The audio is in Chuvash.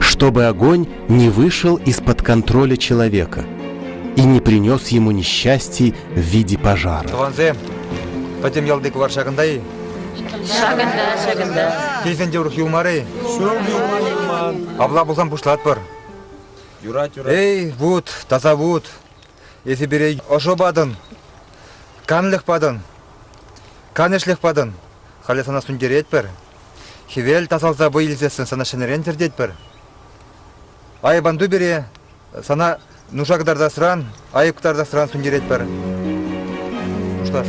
чтобы огонь не вышел из-под контроля человека и не принес ему несчастья в виде пожара. Тӑвансем, пӗтӗм ялти кӑвар ҫакӑнта-и? Ҫакӑнта, ҫакӑнта. Тесен те урӑх юлмар-и? Ҫул юлман. Апла пулсан пуҫлатпӑр. Юрать, юрать. Эй, вут, таса вут, эсӗ пире ӑшӑ патӑн, канлӗх патӑн, канӑҫлӗх патӑн. Халӗ сана сӳнтеретпӗр. Хӗвел тасалса вӑй илсессӗн сана ҫӗнӗрен тӗртетпӗр. Айӑп ан ту пире, сана нуша кӑтартасран, айӑп кӑтартасран сӳнтеретпӗр. Хушлаш.